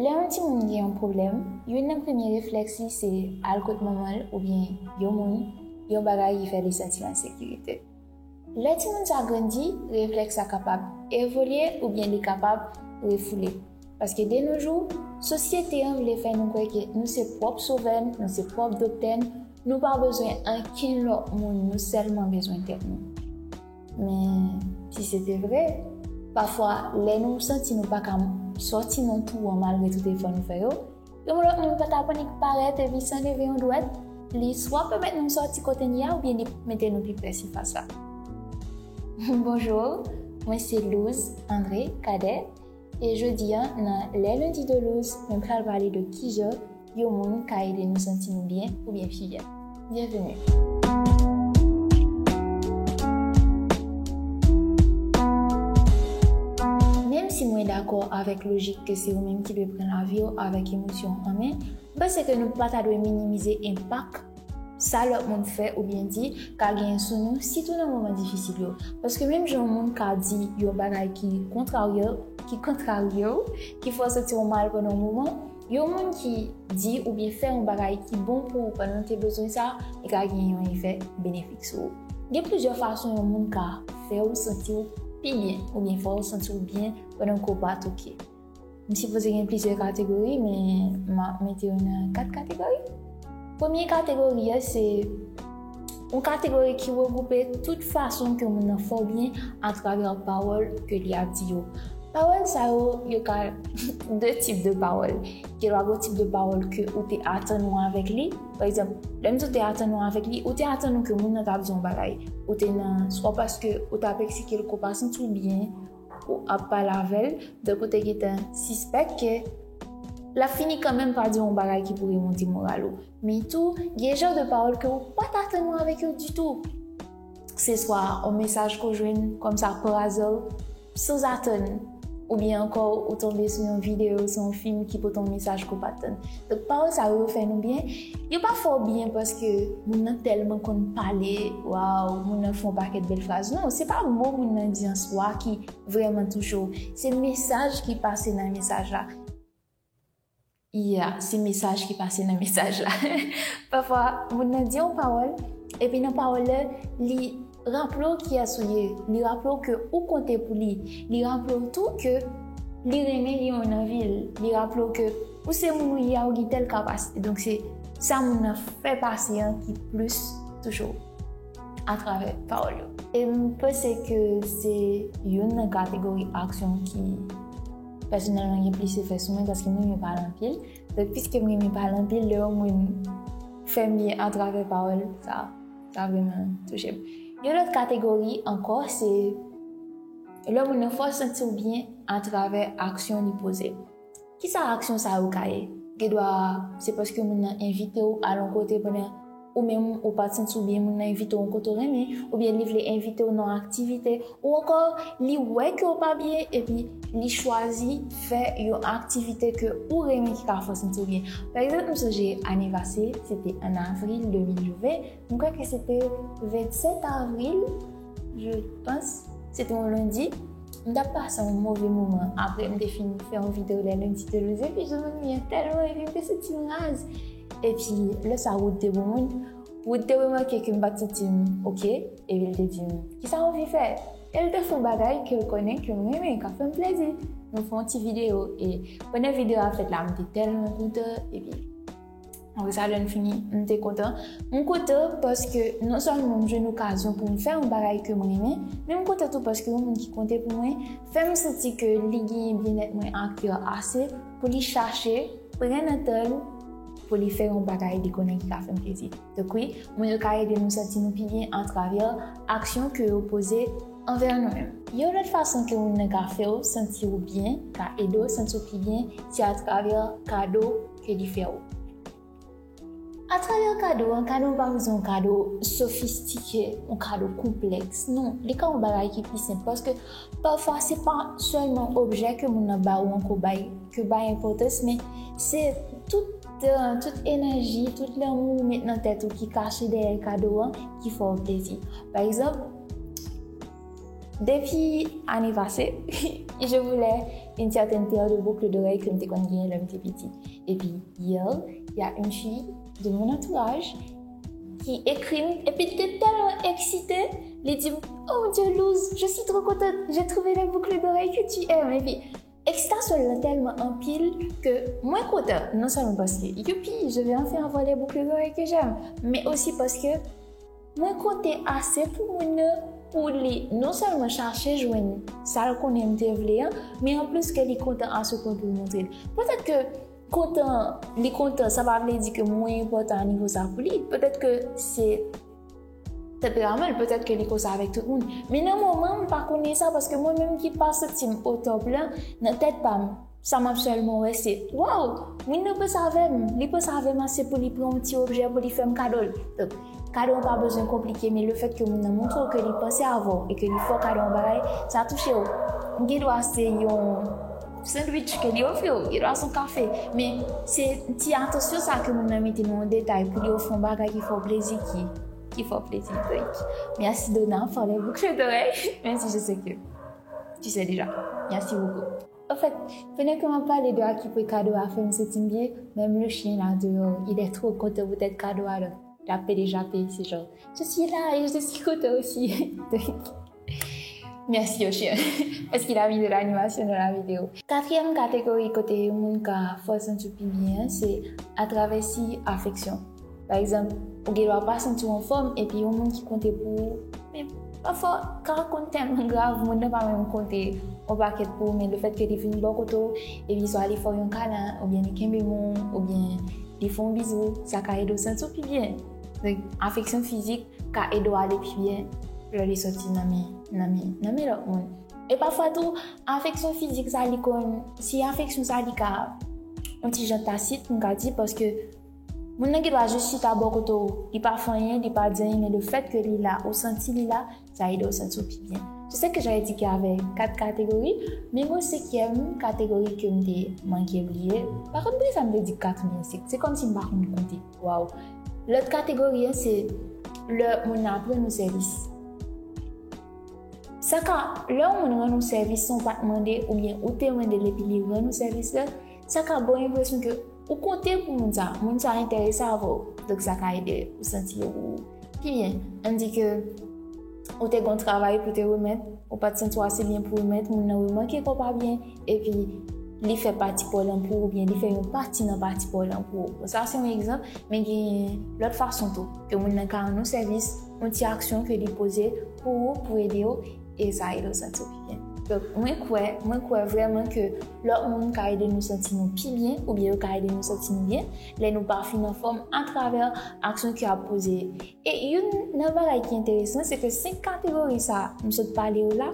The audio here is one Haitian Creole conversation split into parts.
Lè yon timoun gen yon pwoblèm, youn nan premye reflèks li se al kot manman l oubyen yon moun, yon bagay ki fè li santi an sekirite. Lè timoun sa grandi, reflèks sa kapab evolye oubyen li kapab refoule. Paske denojou, sosyete an vle fè nou kwè ke nou se pwòp sovè n, nou se pwòp doktè n, nou pa bezwen ankenn lòt moun, nou sèlman bezwen tèt nou. Men, si se te vre, pafwa lè nou santi nou pa ka sòti nan twou an malgre tout efò nou fè yo, yon lòt moun pa ta ap annik parèt epi san leve yon dwèt, li swa pèmèt nou sòti kote n ye a oubyen li mete nou pi pre sifas la. Bonjou, mwen se Louse André Cadet. E jodi a nan Les Lundis de Louse, mwen pral pale de kijan yon moun ka ede nou santi nou byen oubyen fiyè. Byenveni! Menmsi mwen dakò avèk lojik ke se ou menm ki dwe pran lavi w avèk emosyon an men, m panse ke nou pa ta dwe minimize enpak Sa lòt moun fè oubyen di ka genyen sou nou, sitou nan moman difisil yo. Paske menm jan yon moun ka di yon bagay ki kontrarye l, ki kontrarye w, ki fè w santi w mal pandan yon moman, yon moun ki di oubyen fè yon bagay ki bon pou ou pandan w te bezwen sa, li ka genyen yon efè benefik sou ou. Gen plizyè fason yon moun ka fè w santi w pi byen oubyen fè w santi w byen pandan ke w pa t ok. M sipoze gen plizyè kategori men m ap mete yo nan 4 kategori. Premye kategori a se yon kategori ki regwoupe tout fason ke moun nan fè w byen atravè pawòl ke li ap di yo. Pawòl sa yo, yo ka de tip de pawòl. Gen dwa gen tip de pawòl ke ou te atann ou avèk li. Pa egzanp, lè m di ou te atann ou avèk li, ou te atann ou ke moun nan t ap di yon bagay. Ou te nan, swa paske ou t ap eksplike l ke w pa santi w byen. Ou ap pale avè l tankou te gentan sispèk ke l ap fini kanmenm pa di w yon bagay ki pou remonte moral ou. Men tou, gen jan de pawòl ke ou pa t atann ou avèk yo ditou. Se swa yon mesaj ke w jwenn kòmsa parazè, sanzatann, oubyen ankò ou tonbe sou yon videyo, sou yon fim ki pote yon mesaj ke w pa t atann. Donk pawòl sa yo fè nou byen, yo pa fè w byen paske moun nan tèlman konn pale, waw moun nan fè yon pakèt bèl fraz, non se pa mo moun nan di an swa ki vrèman touche w, se mesaj ki pase nan mesaj la, ya se mesaj ki pase nan mesaj la, pafwa moun nan di yon pawòl epi nan pawòl la li. Raple w kiyès ou ye, li raple w ke ou konte pou li, li raple w tou ke li renmen li yon anvi l, li raple w ke ou se moun ou ye a ou gen tèl kapasite donk se sa moun nan fè pase an ki plis toujou atravè pawòl yo. E m panse ke se youn nan kategori aksyon ki pèsonèlman gen plis efè sou mwen paske m renmen pale anpil donk piske m renmen pale anpil lè yon moun fè m byen atravè pawòl sa. Sa vreman touche m. Yon lòt kategori ankò se lè moun nan fè w santi w byen atravè aksyon li poze. Kisa aksyon sa yo ka ye? Gendwa se paske moun nan envite w al yon kote pandan ou menm ou pa t santi w byen, moun nan envite w yon kote w renmen, oubyen li vle envite w nan yon aktivite, Ou ankò li wè ke ou pa byen epi li chwazi fè yon aktivite ke ou renmen ki ka fè w santi w byen. Pa egzanp m sonje ane pase se te an avril 2020, m kwè ke se te 27 avril je panc, se te yon lendi, m t ap pase yon move moman apre m te fin fè yon video les lundis de Luzin epi je m'ennuyais tellement epi m te santi m raz epi lè sa wood te bon moun, Wood te remake ke m pa t santi m ok, epi l te di m, Kisa w anvi fè? E l te fè yon bagay ke l konnen ke m renmen, k ap fè m plezi. Nou fè yon ti videyo, e pandan videyo a ap fèt la, m te tèlman kontan, epi apre sa lè n fini, m te kontan. M kontan paske non sèlman m jwenn okazyon pou m fè yon bagay ke m renmen, men m kontan tou paske yon moun ki konte pou mwen fè m santi ke li genyen byennèt mwen a kè ase pou li chache pran nan tan l, pou li fè yon bagay li konnen ki ka fè n plezi. Donk wi, mo yo ka ede nou santi nou pi byen atravè aksyon ke yo poze anvè nou menm. Yon lòt fason ke moun nan ka fè w santi w byen, ka ede w santi w pi byen, se atravè kado ke li fè w. Atravè kado an, kado an pa bezwen yon kado sofistike, yon kado konplèks. Non, li ka yon bagay ki pi senp paske. Pafwa se pa sèlman objè ke moun nan ba ou an ke w bay, ke w bay enpòtans men se tout tout enèji, tout lanmou ou met nan tèt ou ki kache dèyè kado an ki fè w plezi. Pa egzanp, depi ane pase, je voulais une certaine paire de boucles d'oreilles ke m te konn genyen lè m te piti. Epi, yè, y a une fille de mon entourage, ki ekri m epi li te tèlman eksite li di m oh mon Dieu Luz je suis trop contente j'ai trouvé la boucle d'oreille que tu aimes epi ekstasyon lan tèlman anpil ke mwen kontan non sèlman paske youpi je vais enfin avoir les boucles d'oreilles que j'aime men osi paske mwen konte ase pou moun nan pou li non sèlman chache jwenn sa l konnen m te vle an men anplis ke li kontan ase pou l montre l petèt ke Kontan, li kontan, sa pa vle di ke mwen enpòtan a nivo sa pou li. Petèt ke se tanperaman l, petèt ke li konsa avèk tout moun. Men nan moman m pa konnen sa paske mwen menm ki pa santi m otòp lan, nan tèt pa m, sa m ap sèlman wè se, waw, moun nan panse avè m, li panse avè m ase pou li pran yon ti objè pou li fè m kado l. Donk, kado an pa bezwen konplike men lefèt ke moun nan montre w ke li panse avè w e ke li fè w kado yon bagay, sa touche w. M gen dwa se yon. Sandwich ke li ofri w, li dwa son kafe, men se ti atansyon sa ke moun nan mete nan yon detay pou li ofri yon bagay ki fè w plezi ki, ki fè w plezi. Donk, merci Dona pour les boucles d'oreilles, menm si je sais que tu sais déjà. Merci beaucoup. Ofèt, pandan ke m ap pale de akipe kado a fè m santi m byen, menm le chien la deyò, il est trop content poutèt kado a, donk, l ape deja peye, se jan, je suis là et je suis content aussi. Merci Ocean parce qu'il a mis de l'animation dans la vidéo. Katriyèm kategori kote yon moun ka fè w santi w pi byen an se atravè siy afeksyon. Pa egzanp, ou gen dwa pa santi w anfòm epi yon moun ki konte pou ou, men pafwa ka konn tèlman grav moun nan pa menm konte yon pakèt pou ou men lefèt ke li vin bò kote w epi swa li fè w yon kalen oubyen li kenbe men w oubyen li fè w bizou sa ka ede w santi w pi byen. Afeksyon fizik ka ede w ale pi byen lè li soti nan men lòt moun. E pafwa tou, afeksyon fizik sa li konn, si afeksyon sa li ka yon ti jan tasit, m ka di, paske moun nan gen dwa jis chita bò kote w, li pa fè anyen, li pa di anyen, men lefèt ke li la, ou santi li la, sa ede w santi w pi byen. Se sa ke j'avais dit ke avè 4 kategori, men mwen senkyèm kategori ke m te manke bliye, pa konn poukisa m te di 4 men se kòmsi m pa konn konte. Waw. Lòt kategori an se lè moun nan ap rann ou sèvis. Sa ka, lè yon moun rann ou sèvis san w pa t mande oubyen ou te mande l epi li rann ou sèvis la, sa ka ba w enpresyon ke ou konte pou moun sa, moun sa enterese avè w, donk sa ka ede ou santi ou pi byen. An n di ke. Ou te gon travay pou te remèt, ou pat santi w ase byen pou remèt, moun nan remake ke w pa byen, epi li fè pati pa w lan pou ou, oubyen li fè yon pati nan pati pa w lan pou ou. Bon sa se yon egzanp, men gen lòt fason tou, ke moun nan ka rann ou sèvis, yon ti aksyon ke li poze pou ou, pou ede w, e sa ede w santi w pi byen. Donk mwen kwè, mwen kwè vrèman ke lòt moun ka ede nou santi nou pi byen, oubyen yo ka ede nou santi nou byen, lè nou pa fin anfòm, atravè aksyon ke yo ap poze. E youn nan bagay ki enteresan se ke 5 kategori sa a m sot pale yo la,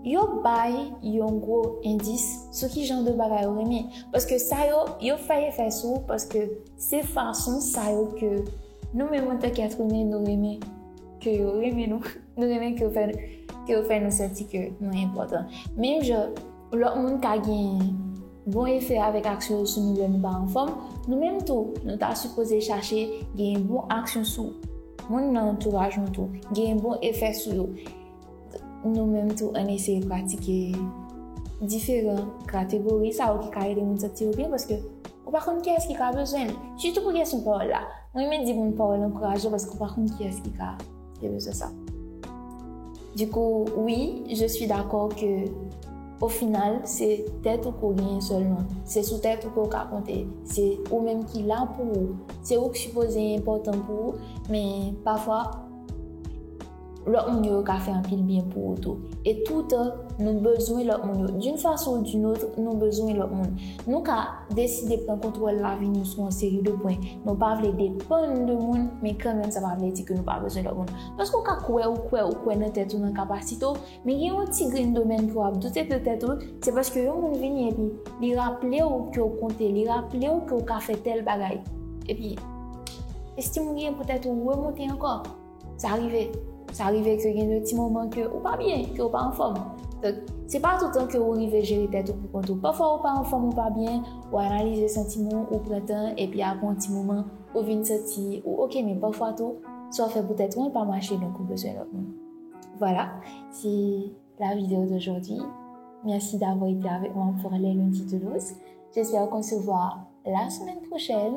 yo bay yon gwo endis sou ki jan de bagay ou renmen. Paske sa yo, yo fè efè sou ou paske se fason sa yo ke nou menm an tan ke èt imen nou renmen ke yo renmen nou, nou renmen ke yo fè nou santi ke nou enpòtan. Menm jan. Lòt moun ka gen bon efè avèk aksyon yo sou nou lè nou pa anfòm, nou menm tou nou ta sipoze chache gen bon aksyon sou moun nan antouraj nou tou, gen bon efè sou yo. Nou menm tou ann eseye pratike diferan kategori sa yo ki ka ede moun santi yo byen paske ou pa konn kiyès ki ka bezwen li. Sitou pou kesyon pawòl la, mwen renmen di moun pawòl ankourajan paske ou pa konn kiyès ki ka. Yo bezwen sa. Du coup, oui, je suis d'accord que au final, se tèt ou ke w genyen sèlman. Se sou tèt ou ke w ka konte. Se ou menm ki la pou ou. Se ou ki sipoze enpòtan pou ou. Men, pafwa, lòt moun yo ka fè anpil byen pou ou tou. E toutan, nou bezwen lòt moun yo. D'une façon ou d'une autre, nou bezwen lòt moun. Nou ka. deside pran kontwòl lavi nou sou yon seri de pwen, nou pa vle depann de moun, men kanmenm sa pa vle di ke nou pa bezwen lòt moun. Paske ou ka kwè ou kwè ou kwè nan tèt ou, nan kapasite ou, men gen yon ti grenn domèn ke w ap doute de tèt ou, se paske yon moun vini epi li raple ou ke ou konte, li raple ou ke ou ka fè tèl bagay, epi estim ou genyen pou tèt ou remonte ankò. Sa rive, sa rive ke gen de ti moman ke ou pa byen, ke ou pa anfòm. Donk, se pa toutan ke ou rive jere tèt ou pou kont ou. Pafwa ou pa anfòm, ou pa byen, ou analize santiman ou, ou pran tan, epi apre yon ti moman, ou vin santi ou oke. Men pafwa tou, sa w fè pou tèt ou an pa mache, donk ou bezwen lòt moun. Vwala, se la video d'aujourd'hui. Mèsi davwa ete avèk mwen pou Les Lundis de Luz. Jespè ou konsevwa la semèn pwochèn.